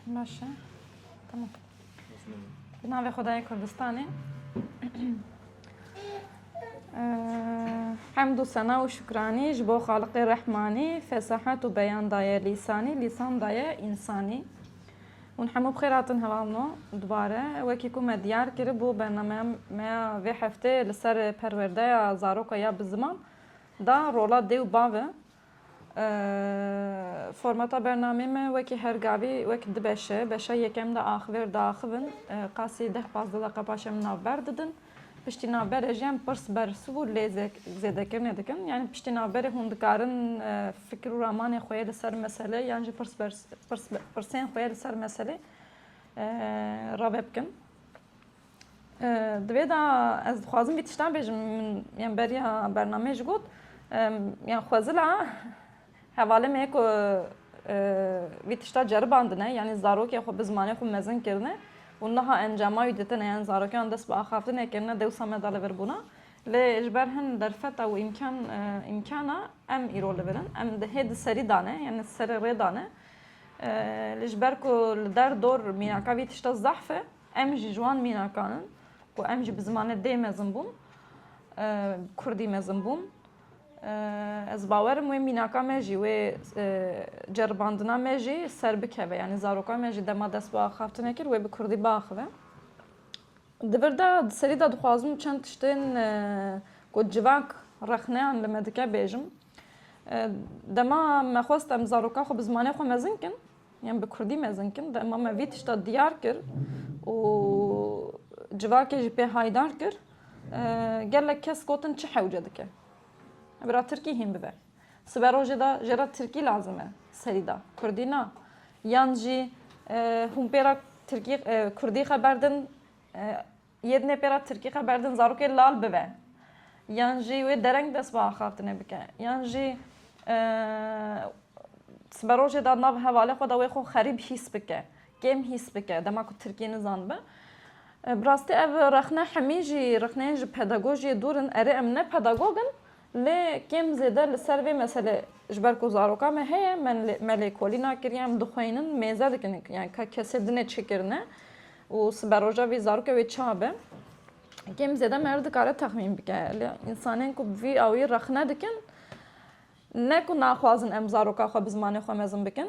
Başa. Tamam. Bi navê Xwedayê Kurdistanê. Hemd û sena û şukranî ji bo Xaliqê Rehmanî fesahet û beyan daye lîsanî, lîsan daye însanî. Hûn hemû bi xêr hatin heval no dubare. Wekî ku me diyar kiribû bernameya me ya vê hefteyê li ser perwerdeya zaroka ya bi ziman da rola dê û bavê. Formata bernameyê me wekî her gavî wek di beş e. Beşa yekem de axivêr diaxivin. Qasî deh pazdeh deqa paşê min navber didin. Piştî navberê jî em pirs bersiv û lêzek zêdekirinê dikin. Yanî piştî navberê hûn dikarin fikir û ramanê xwe yê li ser meselê yan jî pirs pirs pirsên xwe yê li ser meselê rave bikin. Di vê de ez dixwazim vî tiştan bêjim min yan beriya bernameyê jî got yan xwezila hevalê me ku vî tişta ceribandine yanî zarokê xwe bi zimanê xwe mezin kirine û niha encama wî ditine yan zarokê wan dest bi axaftinê kirine dewsa me da li vir bûna. Lê ji ber hin derfeta û îmkan îmkana em îro li vir in. Em di hê di serî dane yanî serê rê dane. Lê ji ber ku li der dor mîraka vî tişta zehf e Em ji ji wan mînakan in ku em jî bi zimanê dê mezin bûn, bi kurdî mezin bûn. Ez bawer im wê mînaka me jî, wê ceribandina me jî ser bikeve. Yanî zaroka me jî dema dest bi axaftinê kir wê bi kurdî biaxive. Di vir de di serî de dixwazim çend tiştên ku civak rexneyan li me dike bêjim. Dema me xwest em zaroka xwe bi zimanê xwe mezin kin, Yan bi kurdî mezin kin dema me vî tişta diyar kir û civakê jî pê haydar kir gelek kes gotin çi hewce dike bira tirkî hîn bibe sibe rojê de jê re tirkî lazim e serî de kurdî na yan jî hûn pê re tirkî kurdî xeber din Yê dinê pê re tirkî xeber din zarokê lal bibe yan jî wê dereng dest bi axaftinê bike yan jî sibe rojê de nav hevalê xwe de wê xwe xerîb hîs bike, kêm hîs bike dema ku tirkî nizanibe. Bi rastî ev rexne hemî jî rexneyên ji pedagojiyê dûr in. Erê em ne pedagog in Lê kêm zêde li ser vê meselê ji ber ku zaroka me heye me lêkolîna kir yan dixweynin mêze dikin yan ka kesê dinê çi kirine û sibe roja vî zaroke wê ça be kêm zêde me her dikare texmîn bike lê însanên ku bi vî awî rexne dikin ne ku naxwazin em zaroka xwe bi zimanê xwe mezin bikin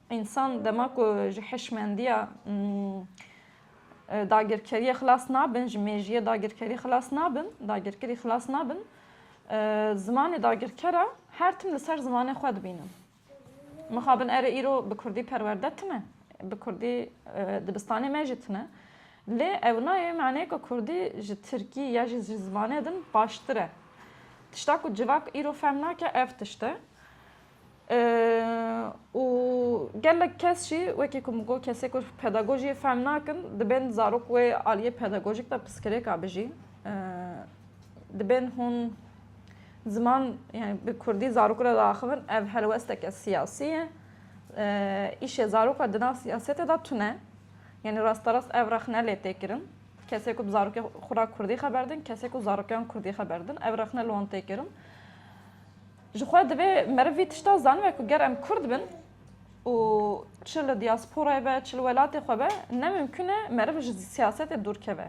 Însan dema ku ji hişmendiya dagirkeriyê xilas nabin, ji mêjiyê dagirkerî xilas nabin, dagirkirî xilas nabin, zimanê dagirkera her tim li ser zimanê xwe dibînin. Mixabin erê îro bi kurdî perwerde tune, bi kurdî dibistanê me jî tune. Lê ew nayê maneyê ku kurdî ji tirkî ya jî ji zimanê din baştir e. Tişta ku civak îro fehm nake ev tişt e. Û gelek kes jî wekî ku min got kesê ku pedagojiyê fehm nakin dibên zarok wê aliyê pedagojîk de piskirêka bijî. Dibên hûn ziman yani bi kurdî zarok re diaxivin ev helwesteke siyasî ye. Îşê zarok re di nav siyasetê de tune. Yani rasterast ev rexne lê tê kirin. Kesê ku bi zarokê xwe re kurdî xeber din, kesê ku zarokan kurdî xeber din ev rexne li wan tê kirin. Ji xwe divê meriv vî tişta zanibe ku ger em Kurd bin û çi li diasporayê be çi li welatê xwe be ne mimkun e meriv ji siyasetê dûr keve.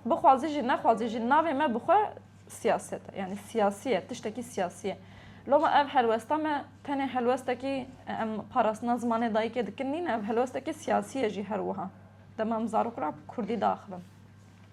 Bixwazî jî nexwazî jî navê me bi xwe siyaset e. Yanî siyasî ye, tiştekî siyasî ye. Loma ev helwesta me tenê helwestekî em parastina zimanê dayikê dikin nîn e, ev helwestekî siyasî ye jî her wiha. Dema em zarok re Kurdî diaxivin.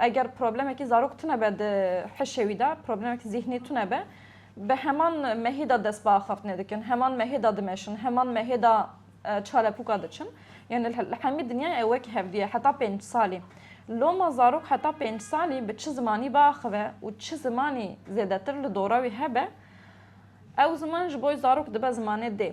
Eger problemekî zarok tune be di hişê wî de, problemek zîhnî tune be, bi heman mehê de dest bi axaftinê dikin, heman mehê de dimeşin, heman mehê de çalepûka diçin. Yanî li hemî dinyayê ew wekî hevdî ye heta pênc salî. Loma zarok heta pênc salî bi çi zimanî biaxive û çi zimanî zêdetir li dora wî hebe, ew ziman ji bo zarok dibe zimanê dê.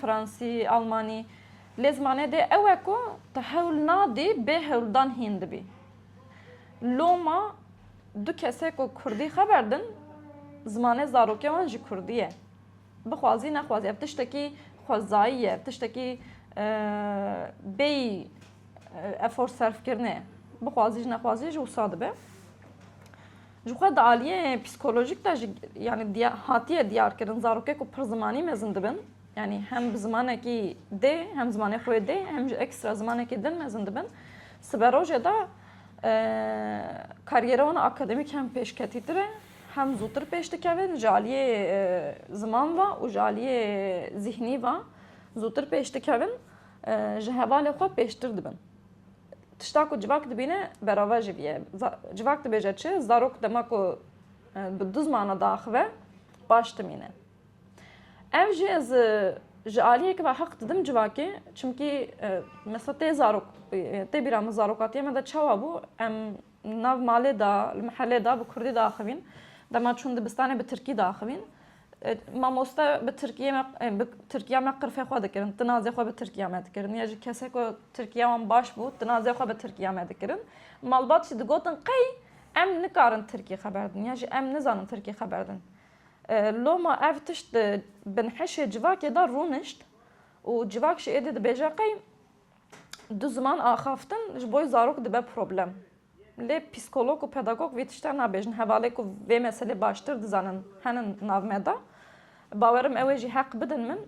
Fransî, Almanî lê zimanê dê ew e ku tu hewl nadî bê hewldan hîn dibî. Loma du kesê ku kurdî xeber din zimanê zarokê wan jî kurdî ye. Bixwazî nexwazî ev tiştekî xwezayî ye, ev tiştekî bêyî efor serfkirinê bixwazî jî nexwazî jî wisa dibe. Jixwe di aliyê psîkolojîk de jî yanî hatiye diyarkirin zarokê ku pir zimanî mezin dibin, yanî hem bi zimanekî dê hem zimanê xwe dê hem jî ekstra zimanekî din mezin dibin, siberojê de karîyera wan akademîk hem pêşketîtir e, hem zûtir pêş dikevin ji aliyê ziman ve û ji aliyê zîhnî ve zûtir pêş dikevin, ji hevalê xwe pêştir dibin. Tişta ku civak dibîne berava jî bîye. Civak dibêje çi? Zarok dema ku bi du zimana diaxive baş dimîne. Ev jî ez ji aliyekê ve heq didim civakê çimkî mesela tê zarok tê bîra min zarokatiya me de çawa bû em nav malê de li mihelê de bi kurdî diaxivîn. Dema çûn dibistanê bi tirkî diaxivîn. Mamoste bi Tirkiyê me bi Tirkiya me qirfê xwe dikirin. Tinazê xwe bi Tirkiya me dikirin. Ya ji kesek ku Tirkiya wan baş bû, tinazê xwe bi Tirkiya me dikirin. Malbat jî digotin qey em nikarin Tirkî xeber din. Ya jî em nizanin Tirkî xeber din. Loma ev tişt di binhişê civakê de rûnişt û civak jî êdî dibêje qey Du ziman axaftin ji bo zarok dibe problem. Lê psîkolog û pedagog vê tişta nabêjin. Hevalên ku vê meselê baştir dizanin henin nav me de. Bawer im ew ê jî heq bidin min.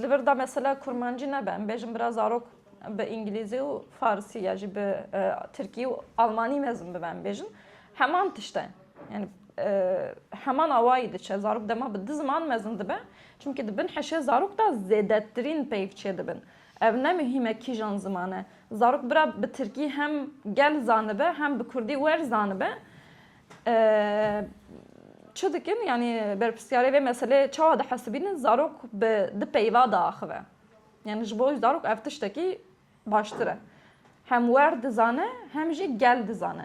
Li vir de mesela kurmancî nebe. Em bêjin bira zarok bi îngilîzî û farsî ya jî bi tirkî û almanî mezin bibe em bêjin. Heman tişt e. Yanî heman awayî diçe. Zarok dema bi du ziman mezin dibe. Çimkî di bin hişê zarok de zêdetirîn peyv çêdibin. Ev ne muhîm e kîjan ziman e. Zarok bira bi tirkî hem gel zanibe hem bi kurdî werz zanibe. Çi dikin yanî berpirsiyarê vê meseleyê çawa dihesibînin zarok bi di peyva diaxive. Yanî ji bo zarok ev tiştekî baştir e. Hem werz dizane hem jî gel dizane.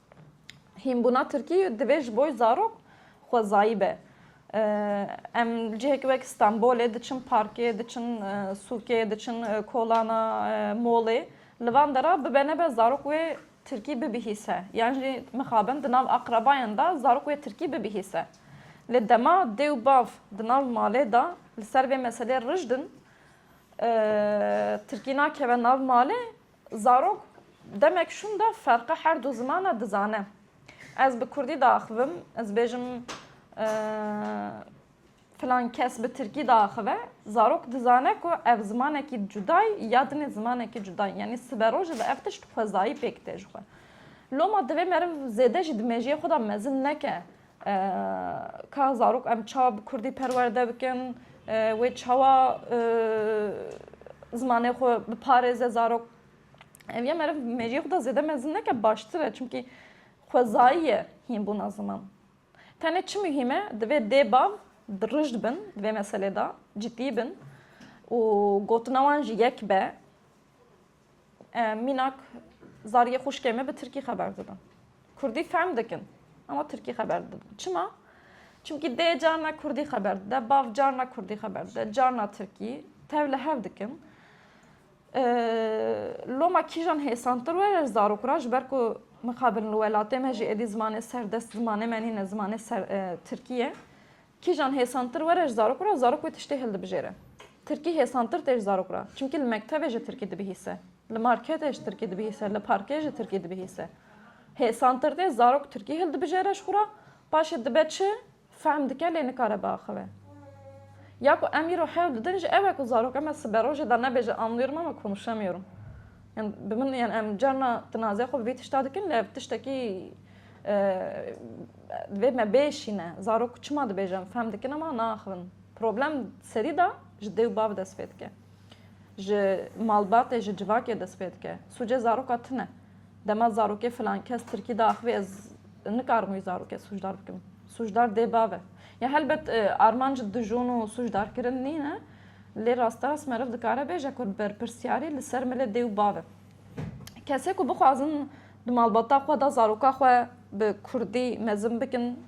Hînbûna Tirkî divê ji bo zarok xwezayî be. Em li cihekî wek Stenbolê diçin parkê, diçin sûkê, diçin kolana, molê. Li van de re bibe nebe zarok wê Tirkî bibihîse. Yan jî mixabin di nav aqrebayan de zarok wê Tirkî bibihîse. Lê dema dê û bav di nav malê de li ser vê meselê rijd in, Tirkî nakeve nav malê Zarok demek şûnda ferqa her du zimana dizane. Ez bi kurdî diaxivim, ez bêjim filan kes bi tirkî diaxive, zarok dizane ku ev zimanekî cudayî ya dinê zimanekî cudayî. Yanî siberojê de ev tişt xwezayî pêk tê ji xwe. Loma divê meriv zêde jî di mêjiyê xwe de mezin neke Ka zarok em ça bi kurdî perwerde bikin, wê çawa zimanê xwe biparêze zarok. Ev ya meriv mêriyê xwe da zêde mezin neke baştir e çimkî xwezayî ye hînbûna ziman. Tenê çi muhîm e divê dê bav dirij bin di vê meselê da, cidî bin û gotina wan jî yek be. Em mînak zariyê xwişkê me bi tirkî xeber didin. Kurdî fehm dikin ama tirkî xeber didin. Çima? Çimkî dê carna kurdî xeber dide, bav carna kurdî xeber dide, carna tirkî tev li hev dikin. Loma kîjan hêsantir were zarok ra ji ber ku mixabin li welatê me jî êdî zimanê serdest zimanê me nîne zimanê tirkî ye. Kîjan hêsantir were ji zarok re, zarok wê tiştê hildibijêre. Tirkî hêsantir tê ji zarok re, çimkî li mektebê ji tirkî dibihîse, li marketê ji tirkî dibihîse, li parkê ji tirkî dibihîse. Hêsantir tê zarok tirkî hildibijêre ji xwe re, paşê dibe çi, fehm dike lê nikare biaxive. Ya ku em îro hewl didin ji ew e ku zaroka me siberojê de nebêje anlıyorum ama konuşamıyorum. Yan bi min yan em carna tinazê xwe bi vî tişta dikin lê ev tiştekî Vê me bê şîne. Zarok çima dibêjin fehm dikin ama naaxivin. Problem serî de ji dê û bav dest pê dike. Ji malbatê ji civakê dest pê dike. Sûcê zaroka tune. Dema zarokê filan kes tirkî de axivî ez nikarim wî zarokê sûcdar bikim. Sûcdar dê bav e. Ya helbet armanc dijûn û sûcdarkirin nîne lê rasterast meriv dikare bêje ku berpirsyarî li ser milê dê û bav e. Kesê ku bixwazin Di malbata xwe de zaroka xwe bi kurdî mezin bikin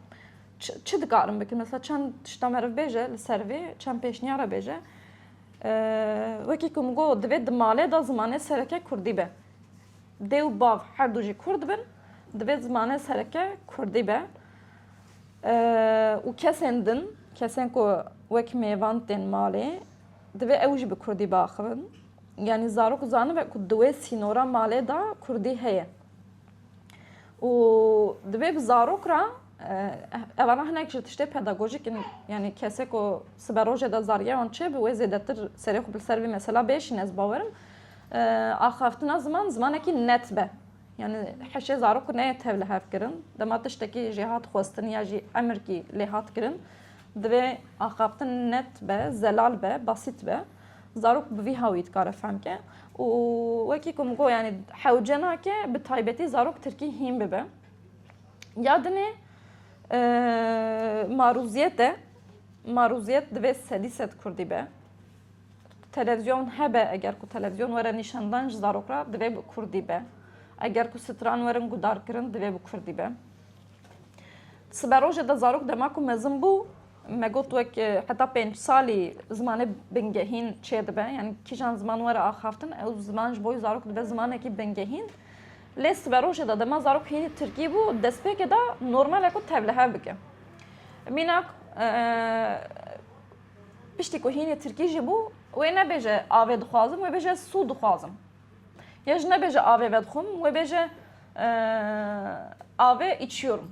çi dikarin bikin? Mesela çend tişta meriv bêje li ser vê, çend pêşniyara bêje. Wekî ku min got divê di malê de zimanê sereke kurdî be. Dê û bav her du jî kurd bin, divê zimanê sereke kurdî be. Û kesên din, kesên ku wek mêvan tên malê divê ew jî bi kurdî biaxivin. Yanî zarok zanibe ku di wê sînora malê de kurdî heye û divê bi zarok re evana hinek ji tiştê pedagojîk in yanî kesê ku sibe rojê de zariya wan çêbibe wê zêdetir serê xwe li ser vê mesela bêşîne ez bawerim axaftina ziman zimanekî net be yanî heşê zarok ku neyê tev li hev kirin dema tiştekî jê hat xwestin ya jî emirkî lê hat kirin divê axaftin net be zelal be basît be Zarok bi vî hawî dikare fehm ke û wekî ku min got yanî hewce nake bi taybetî zarok tirkî hîn bibe. Ya dinê marûziyet e. Marûziyet divê sedî sed kurdî be. Televizyon hebe eger ku televizyon were nîşandan ji zarok re divê bi kurdî be. Eger ku stran werin gudarkirin divê bi kurdî be. Siberojê de zarok dema ku mezin bû Me got wek heta pênc salî zimanê bingehîn çêdibe yani kîjan ziman were axaftin ew ziman ji bo zarok dibe zimanekî bingehîn lê sibe rojê de dema zarok hînî tirkî bû destpêkê de normale ku tevlihev bike mînak piştî ku hînî tirkî jî bû wê nebêje avê dixwazim wê bêje sû dixwazim ya ji nebêje avê vedixwim wê bêje avê içiyorum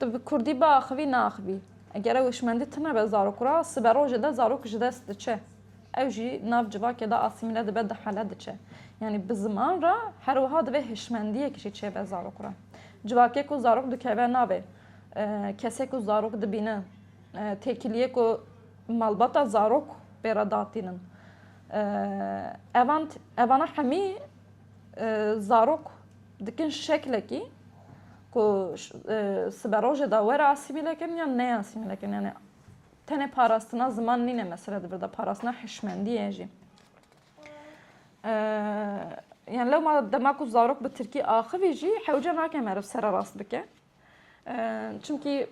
Tu bi kurdî biaxivî neaxivî. Eger ew hişmendî tunebe zarok re, siberojê de zarok ji dest diçe. Ew jî nav civakê de asîmîle dibe, dihele diçe. Yanî bi ziman re her wiha divê hişmendiyek jî çêbe zarok re. Civakê ku zarok dikeve navê, kesê ku zarok dibîne, têkiliyê ku malbata zarok pê re datînin. Evan evana hemî Zarok dikin şeklekî ku siberojê de were asîmîle kirin yan neyê asîmîle kirin. Yani tenê parastina ziman nîne mesele di vir de parastina hişmendiyê jî. Yani lewma dema ku zarok bi tirkî axivî jî hewce nake meriv sererast bike. Çimkî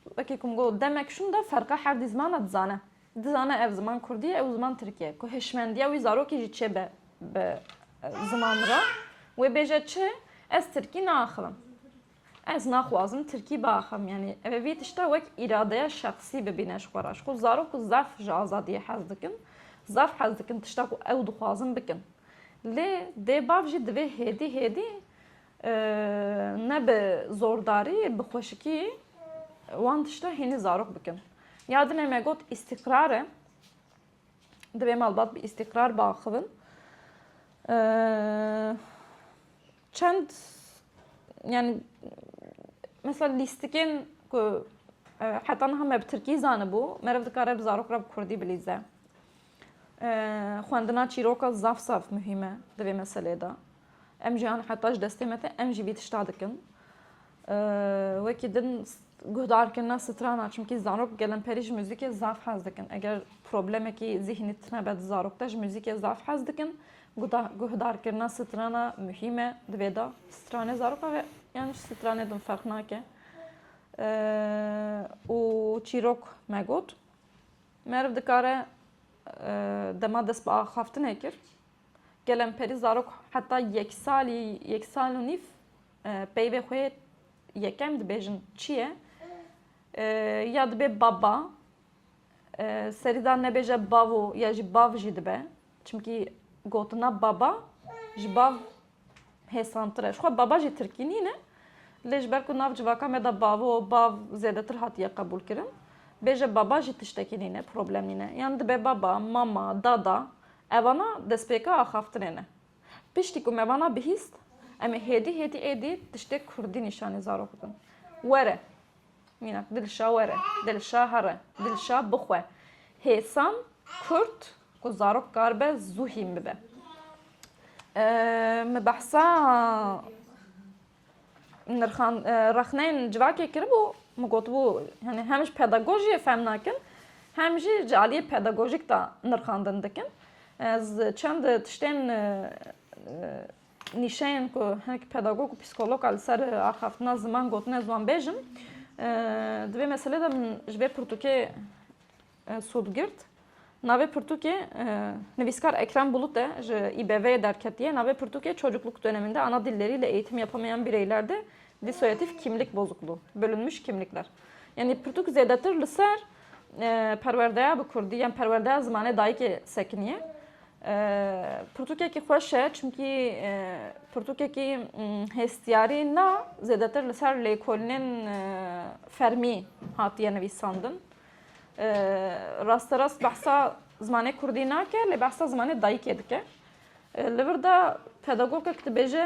wekî ku min got demek şûn de ferqa herdî zimana dizane. Dizane ev ziman kurdî ye ew ziman tirkî ye. Ku hişmendiya wî zarokê jî çê be bi ziman re. Wê bêje çi? Ez tirkî naaxivim. Ez naxwazim tirkî biaxivim. Yanî ev vî tişta wek îradeya şexsî bibîne ji xwe re. Ji ku zarok û zaf ji azadiyê hez dikin. Zaf hez dikin tişta ku ew dixwazin bikin. Lê dê bav jî divê hêdî hêdî Ne bi zordarî bi xweşikî wan tişta hînî zarok bikin. Ya dilê me got îstîqrar e. Divê malbat bi îstîqrar biaxivin. Çend yani mesela lîstikên ku heta niha me bi tirkî zanibû, meriv dikare bi zarok re bi kurdî bilîze. Xwendina çîroka zaf zaf muhîm e di vê meselê de. Em jî an heta ji destê me te em jî vî tişta dikin. Wekî din guhdarkirina strana çimkî zarok gelemperî ji muzîkê zaf hez dikin. Eger problemekî zîhnî tune be di zarok te ji muzîkê zaf hez dikin. Guhdarkirina strana muhîm e di vê de. Stranê zaroka ve yan ji stranê din ferq nake. Û çîrok me got Meriv dikare dema dest bi axaftinê kir, gelemperî zarok heta yek salî, yek sal û nîv peyvê xwe yekem dibêjin çi ye? Ya dibê baba, serî da nebêje bavo ya jî bav jî dibe. Çimkî gotina baba ji bav hêsantir e. Ji xwe baba jî tirkî nîne. Lê ji ber ku nav civaka me de bavo, bav zêdetir hatiye qebûlkirin. Bêje baba jî tiştekî nîne, problem nîne. Yan dibe baba, mama, dada. Evana destpêka axaftinê ne. Piştî ku me vana bihîst, em ê hêdî hêdî êdî tiştê kurdî nîşanî zarok bidin. Were. Mînak, Dilşa were, Dilşa here, Dilşa bixwe. Hêsan, Kurt, ku zarok karibe zû hîn bibe. Min behsa nirxan rexneyên civakê kiribû, min gotibû yani hem ji pedagojiyê fehm nakin, hem jî ji aliyê pedagojîk de nirxandin dikin. Ez çend tiştên Nîşeyên ku hinek pedagog û psîkolog li ser axaftina ziman gotine ziwanbêj in, di vê meselê de min ji vê pirtûkê sûd girt. Navê pirtûkê nivîskar Ekrem Bulut e ji İBV'ye derketiye. Navê pirtûkê Çocukluk döneminde ana dilleri ile eğitim yapamayan bireyler de disoyatif kimlik bozukluğu, bölünmüş kimlikler. Yani pirtûk zêdetir li ser perwerdeya bi kurdî yan perwerdeya zimanê dayikê sekiniye. Pirtûkekî xweş e çimkî pirtûkekî hêstiyarî na zêdetir li ser lêkolinên fermî hatiye nivîsandin. Rasterast behsa zimanê kurdî nake lê behsa zimanê dayikê dike. Li vir de pedagogek dibêje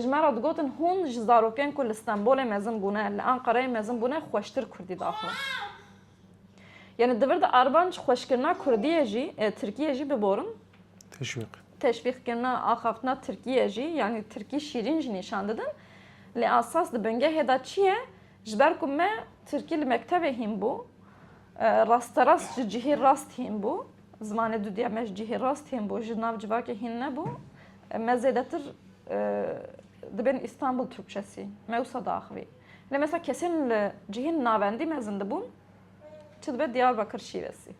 Ji me re digotin hûn ji zarokên ku li Stenbolê mezin bûne, li Anqereyê mezin bûne xweştir kurdî daxwe. Yanî di vir de armanc xweşkirina kurdiyê jî, tirkiyê jî biborin. Teşwîq. Teşwîqkirina, axaftina tirkiyê jî, yanî tirkî şîrîn jî nîşan didin. Lê esas di bingehê de çi ye? Ji ber ku me tirkî li mektebê hîn bû, rasterast ji cihê rast hîn bû, zimanê dudîya me ji cihê rast hîn bû, ji nav civakê hîn nebû. Me zêdetir dibên Îstanbul Tirkçesî me wisa diaxivî. Lê mesela kesên li cihên navendî mezin dibûn çi dibe Diyarbakir şîvesî.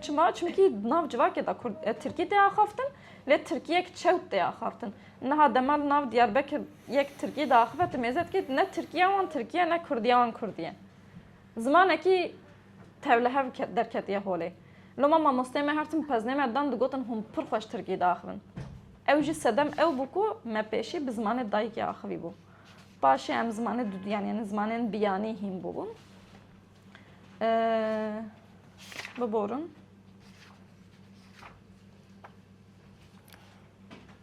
Çima? Çimkî di nav civakê de Kurd Tirkî tê axaftin lê Tirkî yek çewt tê axaftin. Niha dema li nav Diyarbekir yek Tirkî diaxive tu mêze dikî ne Tirkîya wan Tirkî ye ne Kurdîya wan Kurdî ye. Zimanekî Tevlihev derketiye holê. Loma mamosteyê me her tim peznê me dan digotin hûn pir xweş tirkî diaxivin. Ew jî sedem ew bû ku me pêşî bi zimanê dayikê axivîbû. Paşê em zimanê duduyan yanî zimanên biyanî hîn bûbûn. Biborin.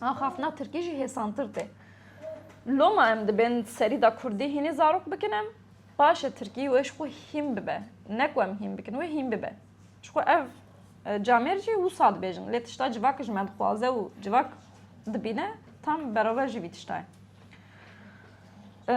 Axafna tirkî jî hêsantir tê. Loma em dibên serî da kurdî hînî zarok bikin em, baş e tirkî wê ji xwe hîn bibe. Ne ku em hîn bikin, wê hîn bibe. Ji xwe ev e, camêr jî wisa dibêjin. Lê tişta civak ji me dixwaze û civak dibîne tam beraber jî vî tişta ye. E,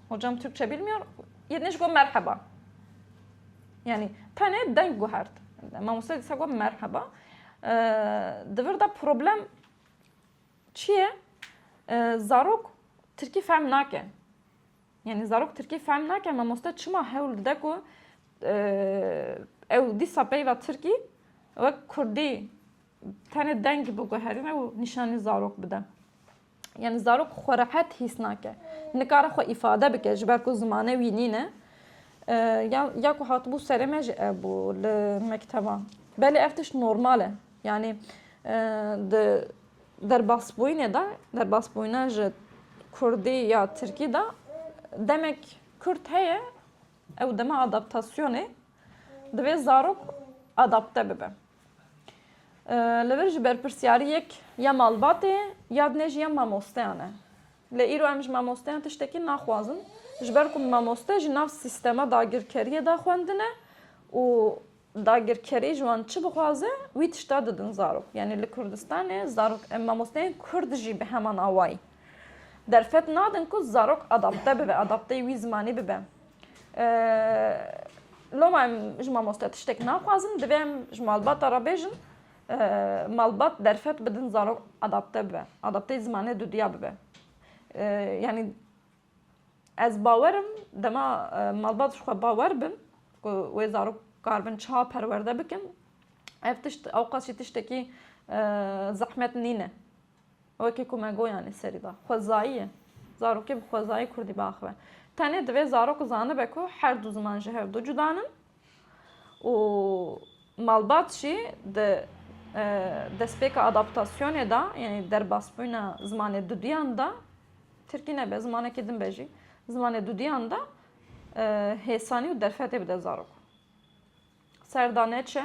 Hocam Türkçe bilmiyor. Yerine go merhaba. Yani tane denk guhart. Mamusta disa go merhaba. Dıvır da problem çiye? Zarok Türkiye fem nake. Yani zarok Türkiye fem nake. Mamusta çıma hewl de ku ew disa peyva Türkiye ve Kurdi Tenê deng biguherîne û nîşanî zarok bide. Yani zarok xwe rehet hîs nake. Nikare xwe îfade bike ji ber ku zimane wî nîne. Ya, ya ku hatibû serê me jî ev bû li mekteban. Belê ev tişt normal e. Yani di derbasbûyînê de, derbasbûyîna ji Kurdî ya Tirkî de demek Kurd heye ew dema adaptasyonê divê zarok adapte bibe. Li vir ji berpirsyariyek ya malbatê ya dinê jî ya mamosteyan e. Lê îro em ji mamosteyan tiştekî naxwazin. Ji ber ku mamoste ji nav sîstema dagirkeriyê de xwendine û dagirkerî ji wan çi bixwaze wî tişta didin zarok. Yanî li Kurdistanê zarok em mamosteyên Kurd jî bi heman awayî derfet nadin ku zarok adapte bibe, adapteyî wî zimanî bibe. Loma em ji mamoste tiştek naxwazin, divê em ji malbata re bêjin malbat derfet bidin zarok adapte bibe, adapteyê zimanê dudya bibe. Yanî ez bawer im dema malbat ji xwe bawer bin ku wê zarok karibin çawa perwerde bikin ev tişt ewqas jî tiştekî zehmet nîne. Wekî ku me goyan li serî da. Xwezayî ye. Zarokê bi xwezayî kurdî biaxive. Tenê divê zarok zanibe ku her du ziman ji hev du cuda nin û malbat jî di destpêka adaptasyonê de yanî derbasbûna zimanê duduyan de tirkî nebe zimanekî din be jî zimanê duduyan de hêsanî û derfetê bide zarok. Serdane çi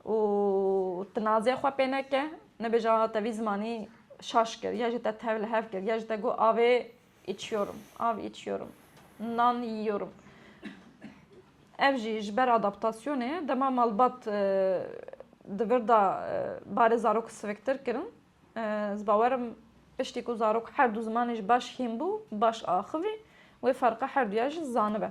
û tinazê xwe pê neke, nebêje a te vî zimanî şaş kir ya jî te tev li hev kir ya jî te got avê içiyorum, av içiyorum, nan yiyorum. Ev jî ji ber adaptasyonê dema malbat di vir de barê zarok siviktir kirin. Ez bawer im piştî ku zarok her du zimanê jî baş hîn bû, baş axivî wê ferqa her duya jî zanibe.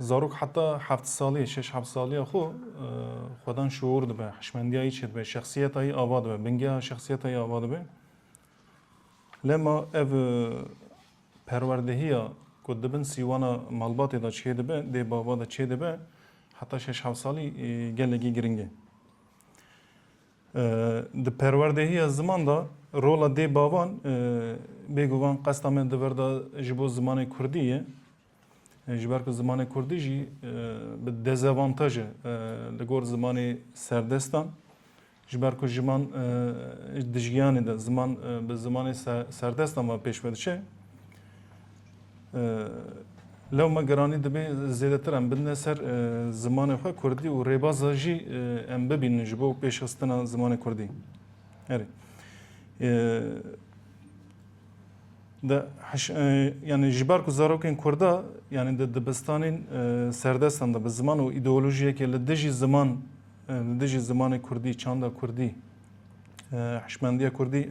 Zarok heta heft salî, şeş heft salî ya xwe xwedan şuur dibe, hişmendiya yî çêdibe, şexsiyeta yî ava dibe, bingeha şexsiyeta yî ava dibe. Lema ev perwerdehiya ku di bin sîwana malbatê de çêdibe, dê bava de çêdibe heta şeş heft salî gelekî giring e. Di perwerdehiya ziman de rola dê bavan bêguvan qesta me di vir de ji bo zimanê kurdî ye. Ji ber ku zimanê kurdî jî bi dezavantaj e li gor zimanê serdestan. Ji ber ku jiman dijgiyanê de ziman bi zimanê serdestan ve pêş ve diçe. Lew me geranî dibê zêdetir em bidine ser zimanê xwe kurdî û rêbaza jî em bibînin ji bo pêşxistina zimanê kurdî. Erê. Di heş yanî ji ber ku zarokên Kurda yanî di dibistanên serdestan de bi ziman û îdeolojiyekê li dijî ziman li dijî zimanê Kurdî, çanda Kurdî, hişmendiya Kurdî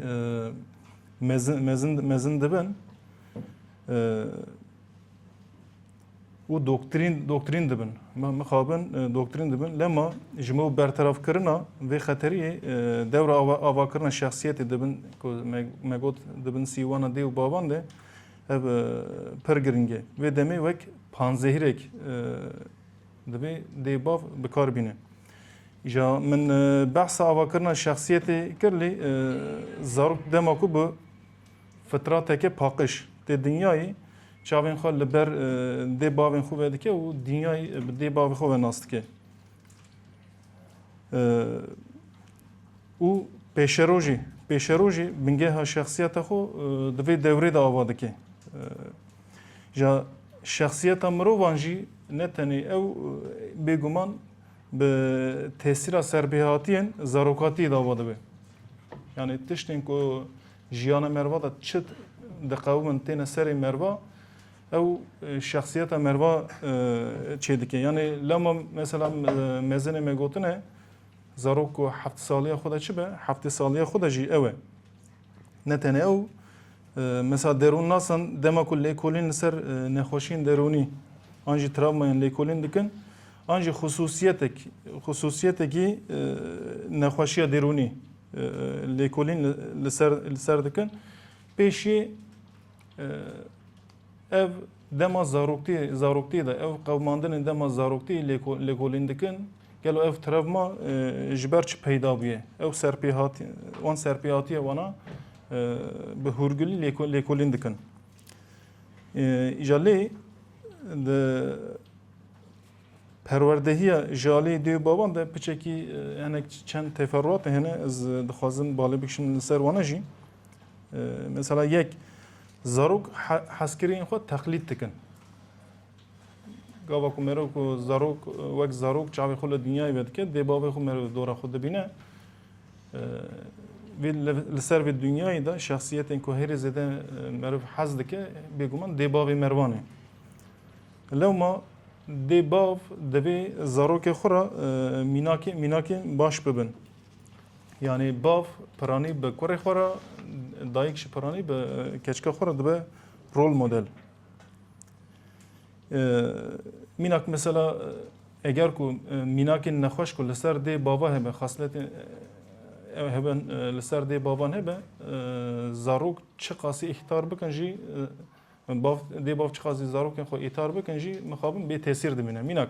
mezin mezin mezin dibin. û doktrîn doktrîn dibin. Me mixabin doktrîn dibin. Lema ji me bertevkirina vê xeteriyê dewra avakirina şexsiyetê dibin ku me got dibin sîwana dê û baban de ev pir giringe. Vê demê wek panzehirek divê dê bav bikar bîne. Ja min behsa avakirina şexsiyetê kir lê zarok dema ku bi fitrateke paqiş tê dinyayê çavên xwe li ber dê bavên xwe vedike û dinyayê bi dê bavê xwe ve nas dike. û pêşerojê pêşerojê bingeha şexsiyeta xwe di vê dewrê de ava dike. Ja şexsiyeta mirovan jî ne tenê ew bêguman Bi tesîra serbêhatiyên zarokatiyê de ava dibe. Yani tiştên ku jiyana merva de çi diqewimin têne serê merva ew e, şexsiyeta merva e, çê dike. Yani lama mesela e, mezinê me gotine zarok ku heft saliya xwe de çi be, heftê saliya xwe de jî ew e. Ne tenê ew mesela derûnnasan dema ku lêkolîn li ser nexweşiyên derûnî an jî travmayên lêkolîn dikin an jî xusûsiyetek xusûsiyetekî nexweşiya derûnî lêkolîn li ser li ser dikin pêşî ev Dema zaroktî zaroktî de ew qewimandinên dema zaroktî lêkolîn dikin, gelo ev travma ji ber çi peyda bûye? Ew serpêhatî wan serpêhatiye wana bi hûrgulî lêkolîn dikin. Îja lê di perwerdehiya ji aliyê dê û baban de piçekî hinek çend teferruatê hene ez dixwazim balê bikişim li ser wana jî. Mesela yek zarok heskiriyên xwe teqlîd dikin. Gava ku merok ku zarok wek zarok çavê xwe li dinyayê ve dike dê bavê xwe merok dora xwe dibîne. Vê li ser vê dinyayê de şexsiyetên ku herê zêde meriv hez dike bêguman dê bavê mervan e. Lewma dê bav divê zarokê xwe re mînakê mînakê baş bibin. Yanî bav piranî bi kurê xwe re dayik ji piranî bi keçika xwe re dibe rol model. Mînak mesela eger ku mînakên nexweş ku li ser dê bava hebe xasletên hebe li ser dê bavan hebe zarok çi qasî îhtar bikin jî bav dê bav çi qasî zarokên xwe îhtar bikin jî mixabin bê tesîr dimîne. Mînak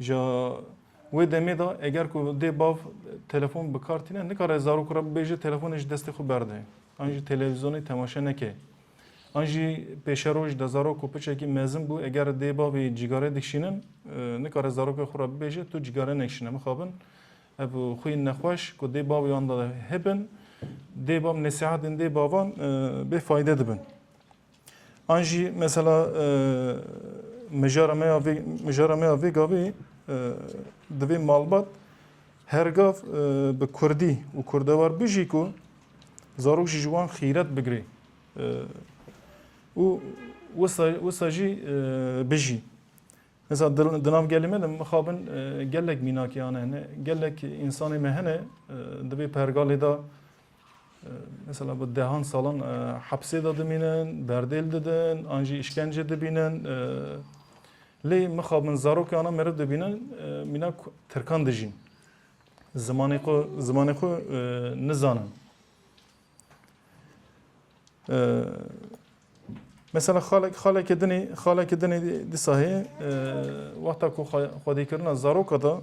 Ji wê demê de eger ku dê bav telefon bi kar tîne nikare zarok re bibêje telefonê ji destê xwe berde. An jî televîzyonê temaşe neke. An jî pêşeroj de zarok ku piçekî mezin bû eger dê bavê cîgare dikişînin nikare zarokê xwe re bibêje tu cîgare nekişîne mixabin. Ev xwîn nexweş ku dê bavê wan de hebin. Dê bav nesîhetên dê bavan bê fayde dibin. An jî mesela mijara me ya vê mijara me ya vê gavê divê malbat her gav bi Kurdî û Kurdewar bijî ku zarok jî ji wan xîret bigirê û wisa jî bijî. Hesa di nav gelê me de mixabin gelek mînakê hane hene. Gelek însanê me hene di vê pergalê de mesela bi dehan salan hepsê de dimînin, berdêl didin, an jî îşkence dibînin. Lê mixabin zarokê ana meriv dibînin mînak tirkan dijîn. Zimanê xwe zimanê xwe nizanin. Mesela xalek xalekê dinê xalekê dinê dîsa heye wexta ku xwedîkirina zaroka da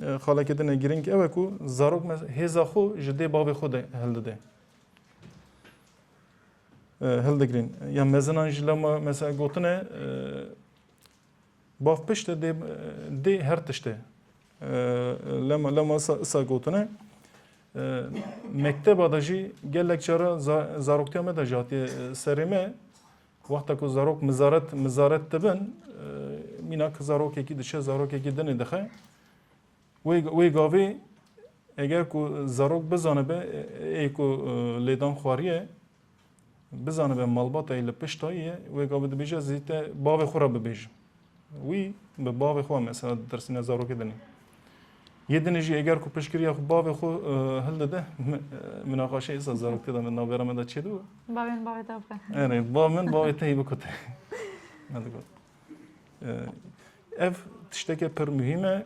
xalekê dinê girîng ew e ku zarok hêza xwe ji dê bavê xwe de hildide. Hildigrîn ya mezinan jî lema mesela gotine Bav pişt e dê her tişt e. Lema lema sa gotine mekteba da jî gelek cara zaroktiya me de jî hatiye serê me wexta ku zarok mizaret mizaret dibin mîna ki zarokekî diçe zarokekî dinê dixe wê wê gavê eger ku zarok bizanibe ê ku lêdan xwariye Bizanibe malbatayê li pişt tayê ye, wê gavê dibêje ez zî te bavê xwe re bibêjim. Wî bi bavê xwe mesela ditirsîne zarokê dinê. Yê dinê jî eger ku piştgiriya xwe bavê xwe hildide min axaşe êsa zaroktê de min navbera min de çêdiwe. Bavê min bavê te bixwe. Erê, bavê min bavê te yî bikute. Ev tişteke pir muhîm e.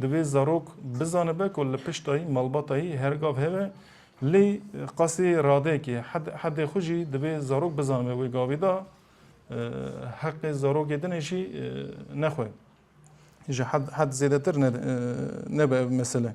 Divê zarok bizanibe ku li pişta yî malbata yî her gav hebe. Lê qasê radeyekê hedê xwe jî divê zarok bizanibe wê gavê da heqê zarokê din e jî nexwe. Ji hed hed zêdetir nebe ev mesele.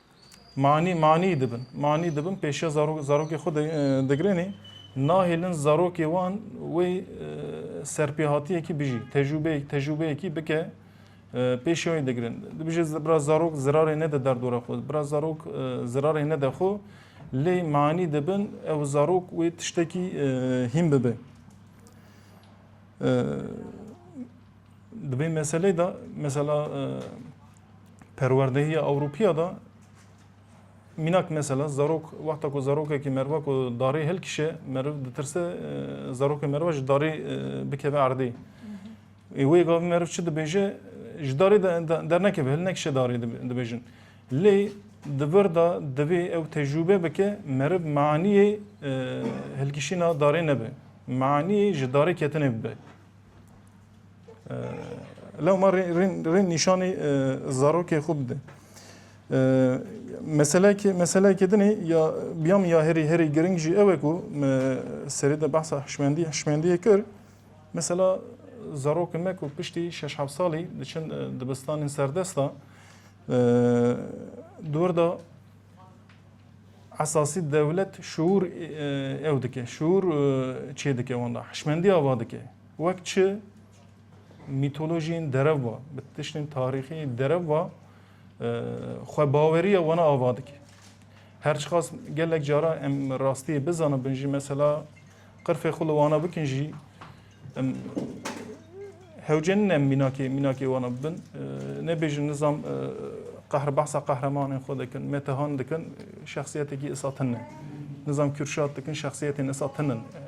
Manî manî dibin. Manî dibin pêşiya zarok zarokê xwe digirênê nahêlin zarokê wan wê serpêhatiyekî bijî tecrûbeyê tecrûbeyekî bike pêşiya wê digirin. Dibijê bira zarok zirarê nede derdora xwe. Bira zarok zirarê nede xwe lê manî dibin ew zarok wê tiştekî hîn bibe. Dibê meseleyê de mesela perwerdehiya Ewropiya da minak mesela zarok wexta ku zarokekî merva ku darê hilkişe meriv ditirse zarokê merva ji darê bikeve erdê. Ê wê gavê meriv çi dibêje ji darê dernekeve hil nekişe darê dibêjin. Lê di vir da divê ew tecrûbe bike meriv maniyê hilkişîna darê nebe. Maniyê ji darê ketinê bibe. Lewma rên nîşanî zarokê xwe bide. Meselekê meselekê dinê ya biyam ya herî herî giring jî ew e ku me serê de behsa hişmendî hişmendiyê kir. Mesela zarokin me ku piştî şeş hev salî diçin dibistanên serdesta dûr da esasî dewlet şûr ew dike şûr çê dike wan da hişmendiya va dike. Wek çi mîtolojiyên derev ve, bi tiştên tarîxî derev ve xwebaweriya wana ava dike. Her çiqas gelek cara em rastiyê bizanibin jî mesela qirfê xwe li wana bikin jî em hewcenin em mînakê mînakê wana bibin. Nebêjin nizam qehr behsa qehremanên xwe dikin, metehan dikin, şexsiyetekî isa tune. Nizam Kürşat dikin şexsiyetên isa tune.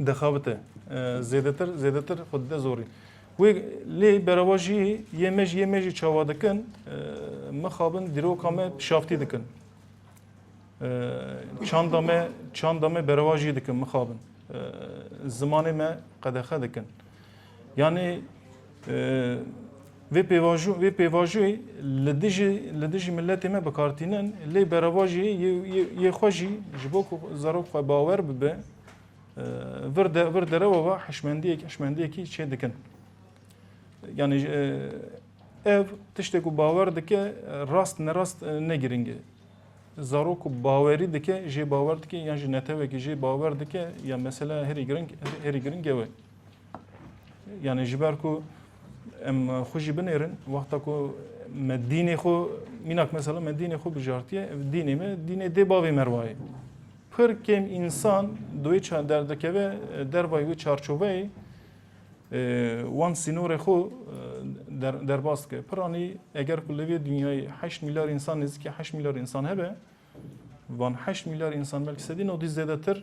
dixebite zêdetir zêdetir xwe dide zorî. Wê lê berava jî yê me jî yê me jî çawa dikin mixabin dîroka me pişaftî dikin. Çanda me çanda me berava jî dikin mixabin. Zimanê me qedexe dikin. Yanî vê pêvajo vê pêvajoyê li dijî li dijî miletê me bikartînin lê berava jî yê xwe jî ji bo ku zarok xwe bawer bibe vir de vir derewa va hişmendiyek hişmendiyekî çê dikin. Yanî ev tiştê ku bawer dike rast nerast ne girîng e. Zarok ku bawerî dike jê bawer dike yan jî netewekî jê bawer dike ya mesela herî girîng herî girîng ew e. Yani ji ber ku em xwe jî binêrin wexta ku me dînê xwe mînak mesela me dînê xwe bijartiye dînê me dînê dê bavê merwayê pir kêm însan doyê çar derdikeve dervayê wê çarçoveyê wan sînorê xwe derbas dike piranî eger ku li vê dinyayê heşt milyar însan nêzîkî heşt milyar însan hebe van heşt milyar însan belkî sedî nodî zêdetir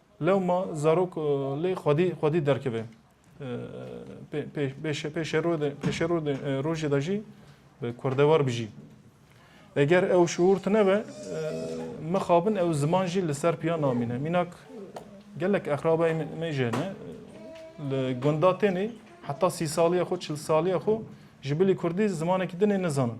Lewma zarok lê xwedî xwedî derkeve. Pêşerode rojê de jî bi kurdewar bijî. Eger ew şuur tine be mixabin ew ziman jî li ser piya namîne. Mînak gelek exrabayê me jê ne li gunda tênê heta sî saliya xwe çil saliya xwe ji bilî kurdî zimanekî dinê nizanin.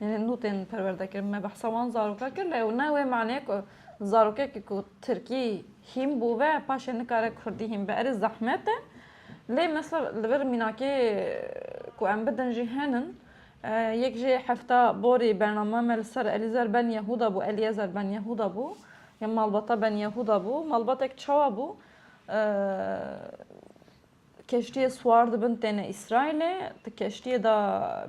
Yanî nû tên perwerdekirin. Me behsa wan zaroka kir lê ew ne wê maneyê ku zarokekî ku tirkî hîn bû ve paşê nikare kurdî hîn be. Erê zehmet e lê misal li vir mînakê ku em bidin jî henin. Yek jê hefta borî bername me li ser Elîzer Ben Yehûda bû, Elîezer Ben Yehûda bû ya malbata Ben Yehûda bû. Malbatek çawa bû? Keştiyê siwar dibin têne Îsraîlê. Di keştiyê de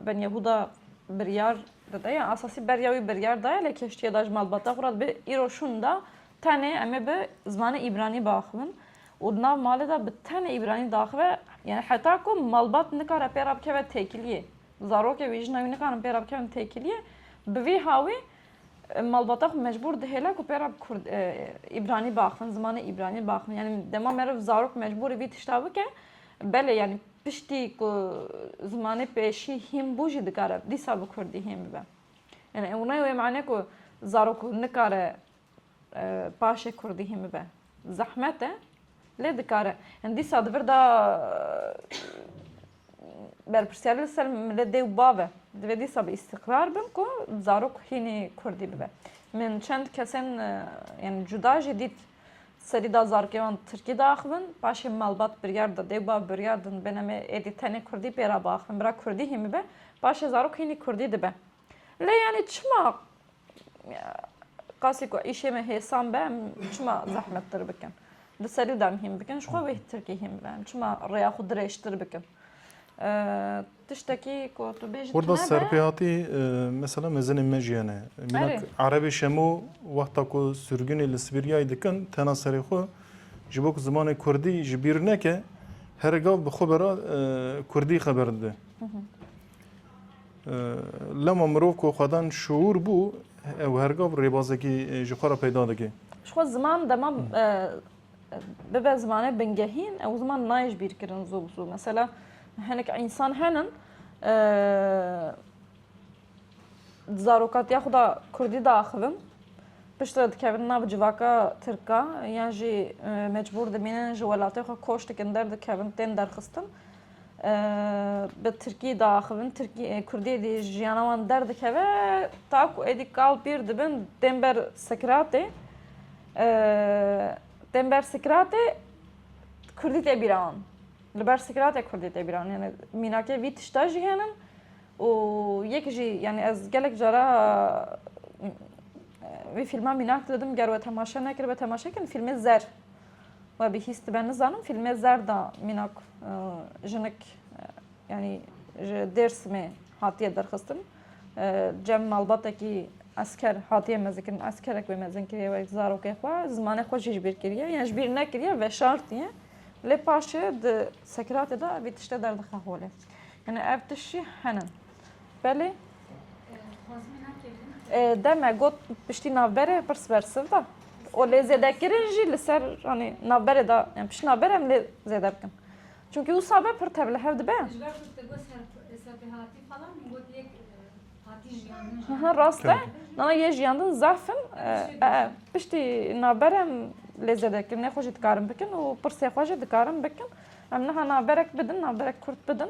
Benyahûda biryar dide ya esasî beriya wî biryar daye lê keştiyê de ji malbata xwe re dibe îro şûn da tenê em ê bi zimanê îbranî biaxivin û di nav malê de bi tenê îbranî diaxive yanî heta ku malbat nikare pê re bikeve têkiliyê zarokê wî jina wî nikarin pê re bikevin têkiliyê bi vî hawî Malbata xwe mecbûr dihêle ku pêra kurd îbranî baxivin, zimanê îbranî baxivin. Yanî dema meriv zarok mecbûrê vî tişta bike, belê yanî piştî ku zimanê pêşî hîn bû jî dikare dîsa bi kurdî hîn bibe. Yani ew ne wê mane ku zarok nikare Paşê kurdî hî mibe zehmet e lê dikare. Hin dîsa di vir de berpirsiyarî li ser milê dê û bav e. Divê dîsa bi îstîqrar bin ku zarok hînî kurdî bibe. Min çend kesên yanî cuda jî dît serî da zarokê wan tirkî diaxivin, paşê malbat biryar da, dê û bav biryar din bêne me êdî tenê kurdî pê re biaxivin. Bira kurdî hî mibe, paşê zarok hînî kurdî dibe. Lê yanî çima qasî ku îşê me hêsan be em çima zehmettir bikin? Di serî de em hîn bikin ji xwe wê tirkî hîn bibe em çima rêya xwe dirêjtir bikin? Tiştekî ku tu bêjî Orda serpêhatî mesela mezinên me jî hene. Mînak Erebê şemo wexta ku sürgûnê li Sibîryayê dikin tena serê xwe ji bo ku zimanê Kurdî ji bîr neke here gav bi xwe bera Kurdî xeber dide. Lema mirov ku xwedan şuur bû ew hergav rêbazekî ji xwe re peyda dike. Ji xwe ziman dema bibe zimanê bingehîn ew ziman nayê ji bîr kirin zû bi zû. Mesela hinek însan henin zarokatiya xwe da Kurdî diaxivin pişt re dikevin nav civaka Tirka yan jî mecbûr dimînin ji welatê xwe koş dikin derdikevin tên derxistin. bi Tirkî de axivin, Tirkî e, Kurdiyê dî jiyana wan derdikeve ta ku êdî kal pîr dibin tên ber Sikratê. Tên ber Sikratê Kurdî tê bîra wan. Li ber Sikratê Kurdî tê bîra wan. Yani mînakê vî tişta jî henin û yek jî yani ez gelek cara vî fîlma mînak didim ger we temaşe nekiribe temaşe kin fîlmê zer. We bihîstibe nizanim fîlmê zerda mînak jinik yanî ji Dêrsimê hatiye derxistin. Cem malbatekî esker hatiye mezikin eskerek wê mezin kiriye wek zarokê xwe zimanê xwe jî ji bîr kiriye yan ji bîr nekiriye veşartiye lê paşê di sekiratê de vî tiştê derdixe holê yani ev tişt jî henin Belê. Deme got piştî navberê pir siber siv da. O lê zêdekirin jî li ser anî navberê da em pişt navberê em lê zêde bikin. Çünkü û sabe pir tev li hev dibe. Ha rast e. Nana yê jiyandin zafin piştî navberê em lê zêdekirin nê xwe jî dikarin bikin û pirsê xwe jî dikarin bikin. Em niha navberek bidin, navberek kurt bidin.